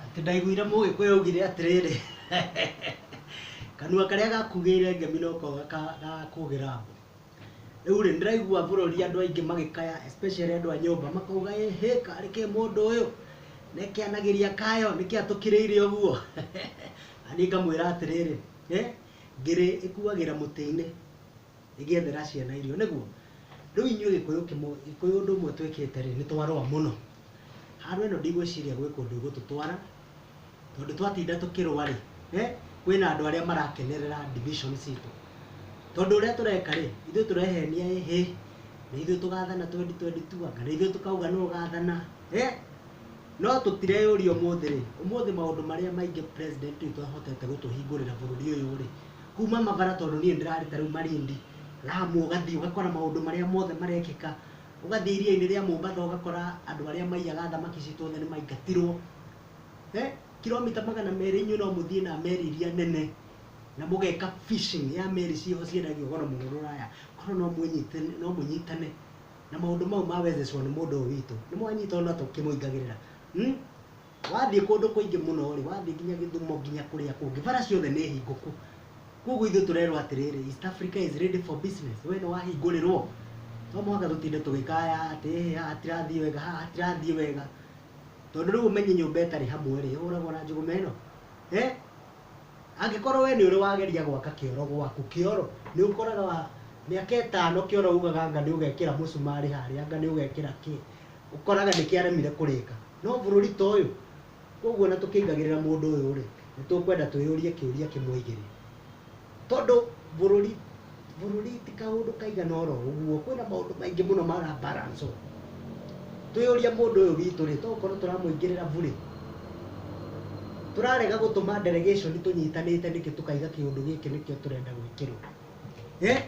Atĩ ndaiguire mũgĩkũyũ augire atĩrĩrĩ kanua karĩa gakugĩire ngemi noko gaka- gakũgĩra mbu. Rĩu rĩ ndĩraigua bũrũri andũ aingĩ magĩkaya especially andũ a nyũmba makauga ĩhĩ karĩ ke mũndũ ũyũ ne kĩanagĩria kayo nĩkĩ atũkĩrĩire ũguo. Na niĩ ngamwĩra atĩrĩrĩ, ngĩrĩ ĩkuagĩra mũtĩ-inĩ. ĩgĩethera ciana irio, nĩguo? Rĩu inyuĩ Gĩkũyũ kĩmũ, Gĩkũyũ ũndũ ũmwe twĩkĩte rĩ, nĩ twarũa mũno. Handũ ĩno ndigwĩciria gwĩ kũndũ ĩgũtũtwara, tondũ twatinda tũkĩrũa rĩ, he, kwĩna andũ arĩa marakenerera division citũ. Tondũ ũrĩa tũreka rĩ, ithuĩ tũrehenia ĩ hĩ, na ithuĩ tũgathana twendi twendi tu anga nĩ ithuĩ tũkauga nũ ũgathana, he? No tũtireyũria ũmũthĩ rĩ, ũmũthĩ maũndũ marĩa maingĩ president witũ ahotete gũtũhingũrĩra bũrũri ũyũ rĩ, kuma mabara tondũ niĩ ndĩrarĩ ta rĩu Malindi, Lamu ũgathiĩ ũgakora maũndũ marĩa mothe marekĩka, ũgathiĩ iria-inĩ rĩa Mombatha ũgakora andũ arĩa maiyaga thamaki citũ othe nĩ maingatirwo. Kiromita magana merĩ inyuĩ no mũthiĩ na meri iria nene na mũgeka fishing ya meri ciĩho ciendagio goro mũno rũraya, korwo no mwĩnyite, no mũnyitane na maũndũ mau ma Wezeshwa nĩ mũndũ ũyũ witũ, nĩ mwanyita ona tũkĩmũingagĩrĩra. Wathiĩ kũndũ kũingĩ mũno-rĩ, wathiĩ nginya Gĩthumo nginya kũrĩa kũngĩ, bara ciothe nĩ hingũku. Kuoguo ithuĩ tũrerwo atĩrĩrĩ, East Africa is ready for business. We nĩwahingũrĩrwo? To mũhaka tũtinde tũgĩkaya atĩ ĩhĩ haha hatirathiĩ wega, haha hatirathiĩ wega. Tondũ rĩu ũmenye nyũmba ĩtarĩ hamwe-rĩ, ĩhũragwo na njũgũma ĩno? Hĩ! Angĩkorwo we nĩũrĩ wageria gwaka kĩoro gwaku, kĩoro, nĩũkoraga mĩaka ĩtano kĩoro ugaga anga nĩũgekĩra mũcumarĩ harĩa, anga nĩũgekĩra kĩ. Ũkoraga nĩ kĩaremire kũrĩka. No bũrũri ta ũyũ? Kwoguo ona tũkĩingagĩrĩra mũndũ ũyũ rĩ, nĩ tũkwenda twĩyũrie kĩũria kĩmwe igĩrĩ. Tondũ bũrũri, bũrũri ti kaũndũ kaigana oro ũguo, kwĩna maũndũ maingĩ mũno mara balance ũũ. Twĩyũrie mũndũ ũyũ witũ rĩ, to gũkorwo tũramũingĩrĩra burĩ? Tũrarega gũtũma delegation tũnyitanĩte nĩkĩ tũkaiga kĩũndũ gĩkĩ nĩkĩo tũrenda gwĩkĩrwo? Eeh?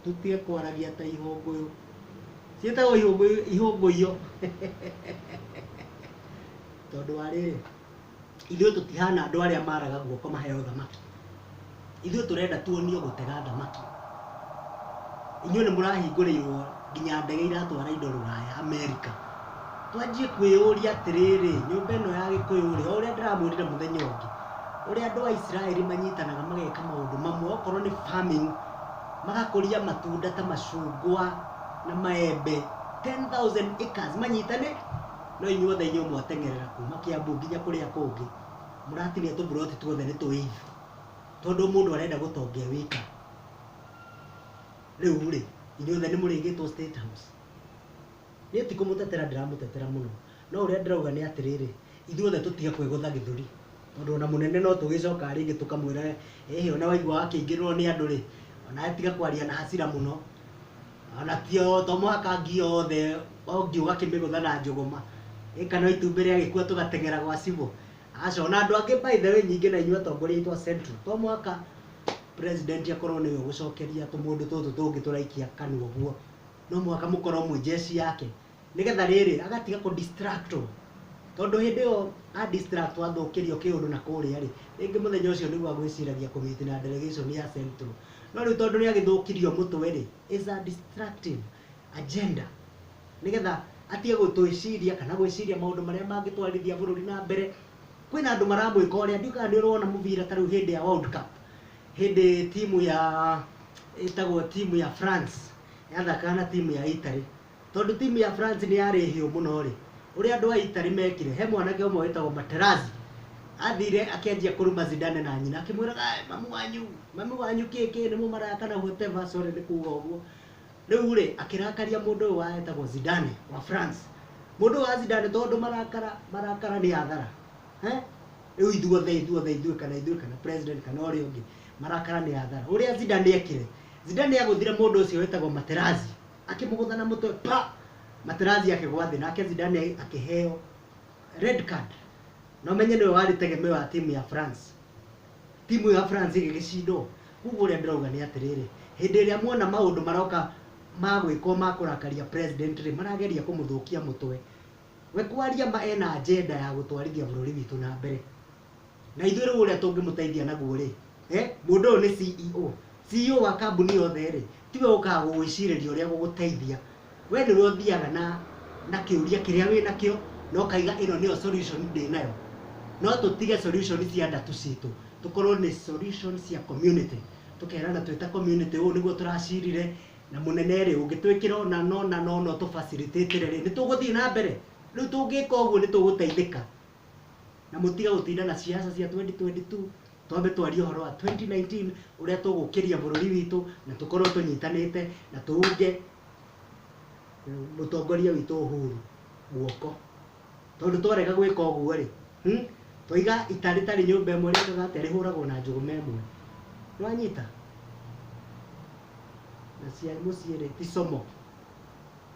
Tũtige kwaragia ta ihũngũyũ. Ciĩtagwo ihũngũyũ, ihũngũyũ. Tondũ wa rĩrĩ, ithuĩ tũtihana andũ arĩa maraga guoko maheo thamaki. Ithuĩ tũrenda tuonio gũtega thamaki. Inyuĩ nĩ mũrahingũrĩirwo nginya ndege iratwara indo rũraya Amerika, twanjie kwĩyũria atĩrĩrĩ, nyũmba ĩno ya gĩkũyũ rĩ, o ũrĩa ndĩramwĩrire mũthenya ũngĩ, ũrĩa andũ a Isiraeli manyitanaga mageka maũndũ mamwe, okorwo nĩ farming, magakũria matunda ta macungwa na maembe 10,000 acres manyitane, no inyuĩ othe inyuĩ mwateng'erera kuma Kiambu nginya kũrĩa kũngĩ, mũratinia tũburoti tuothe nĩ tũĩithi, tondũ mũndũ arenda gũtonga e wika. Rĩu rĩ, inyuothe nĩ mũrĩgĩtwo State House? Niĩ ti kũmũtetera ndĩramũtetera mũno, no ũrĩa ndĩrauga nĩ atĩrĩrĩ, ithuothe tũtige kwĩgũtha gĩthũri, tondũ ona mũnene no tũgĩcokaga rĩngĩ tũkamwĩra ĩhĩ ona waigua wakĩingĩrĩrwo nĩ andũ rĩ, onawe tiga kwaria na hasira mũno, ona tio to mũhaka ngi yothe o ngi ũgakĩmĩgũtha na njũgũma, ĩ kana o itumbĩ rĩagĩkua tũgateng'era gwa cibũ? Aca, ona andũ angĩ by the way nyingĩ na inyuĩ atongoria aitũ a Central to mũhaka president akorwo nĩwe ũgũcokeria tũmũndũ tũtũ tũngĩ tũraikia kanua ũguo no mũhaka mũkorwo mwĩ jeshi yake nĩgetha rĩrĩ agatiga kũ distractwo tondũ hĩndĩ ĩyo a distractwo athũkĩrio kĩũndũ na kũrĩa rĩ rĩngĩ mũthenya ũcio nĩguo agwĩciragia kũ meet na delegation ya central no rĩu tondũ nĩ agĩthũkirio mũtwe rĩ is a distractive agenda nĩgetha atige gũtwĩciria kana gwĩciria maũndũ marĩa mangĩtwarithia bũrũri na mbere. Kwĩna andũ maramwĩka ũrĩa, ndiũĩ kana nĩũrona mũbira ta rĩu hĩndĩ ya World Cup, hĩndĩ timu ya ĩtagwo timu ya France yathakaga na timu ya Italy. Tondũ timu ya France nĩyarĩ hĩũ mũno rĩ, ũrĩa andũ a Italy mekire, he mwanake ũmwe wĩtagwo Materazzi, athire akĩanjia kũruma Zidane na nyina akĩmwĩraga "Eh, mamu wanyu, mamu wanyu kĩĩ kĩĩ, nĩmũmaraya kana whatever, sorry nĩ kuga ũguo. Rĩu-rĩ, akĩrakaria mũndũ ũyũ wetagwo Zidane wa France. Mũndũ ũyũ wa Zidane tondũ marakara, marakara nĩ athara. Eh? Rĩu ithuothe, ithuothe, ithuĩ kana ithuĩ kana president kana ũrĩa ũngĩ, marakara nĩ athara. Ũrĩa Zidane ekire, Zidane nĩagũthire mũndũ ũcio wetagwo Materazzi, akĩmũgũtha na mũtwe pa! Materazzi akĩgwa thĩ, nake Zidane akĩheo red card. Na ũmenye nĩwe warĩ tegemeo ya timu ya France. Timu ya France ĩgĩgĩcindwo. Kwoguo ũrĩa ndĩrauga nĩ atĩrĩrĩ, hĩndĩ ĩrĩa muona maũndũ maroka ma gwĩkwo ma kũrakaria president rĩ, marageria kũmũthũkia mũtwe. We kwaria ma ena agenda ya gũtwarithia bũrũri witũ na mbere. Na ithuĩ rĩu ũrĩa tũngĩmũteithia naguo rĩ, mũndũ ũyũ nĩ CEO. CEO wa kambuni yothe rĩ, tiwe ũkaga gũgwĩcirĩria ũrĩa gũgũteithia Wee nĩwe ũthiaga na na kĩũria kĩrĩa wĩ nakĩo na ũkaiga ĩno nĩyo solution ndĩ nayo. No tũtige solution cia nda tu citũ, tũkorwo nĩ solution cia community. Tũkerana twĩ ta community ũũ nĩguo tũracirire, na mũnene rĩ, ũngĩtwĩkĩra ũna na ũna na ũna ũtũ facilitate rĩ, nĩ tũgũthiĩ na mbere? Rĩu tũngĩka ũguo nĩ tũgũteithĩka. na mũtige gũtinda na ciaca cia 2022 twambe twarie ũhoro wa 2019 ũrĩa tũgũkĩria bũrũri witũ na tũkorwo tũnyitanĩte na tũunge mũtongoria witũ Uhuru guoko tondũ twarega gwĩka ũguo rĩ hmm, twaiga ita rĩtarĩ nyũmba ĩmwe rĩkaga atĩa rĩhũragwo na njũgũma ĩmwe nĩwanyita na cia mũciĩ rĩ ti somo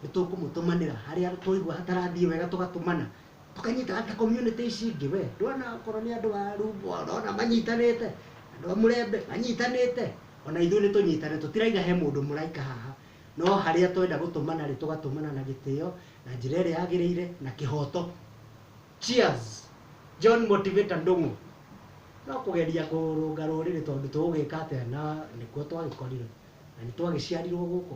nĩ tũkũmũtũmanĩra harĩa twaigua hatarathiĩ wega tũgatũmana tũkanyita ata community ici ingĩ we ndwona okorwo nĩ andũ a rumbo ndwona manyitanĩte andũ a mũrembe manyitanĩte ona ithuĩ nĩ tũnyitane tũtiraiga he mũndũ mũraika haha no harĩa twenda gũtũmana rĩ tũgatũmana na gĩtĩo na njĩra ĩrĩa yagĩrĩire na kĩhoto cheers john motivator ndũng'ũ no kũgeria kũrũnga rũrĩrĩ tondũ tũgũgĩka atĩa na nĩkuo twagĩkorirwo na nĩ twagĩciarirwo gũkũ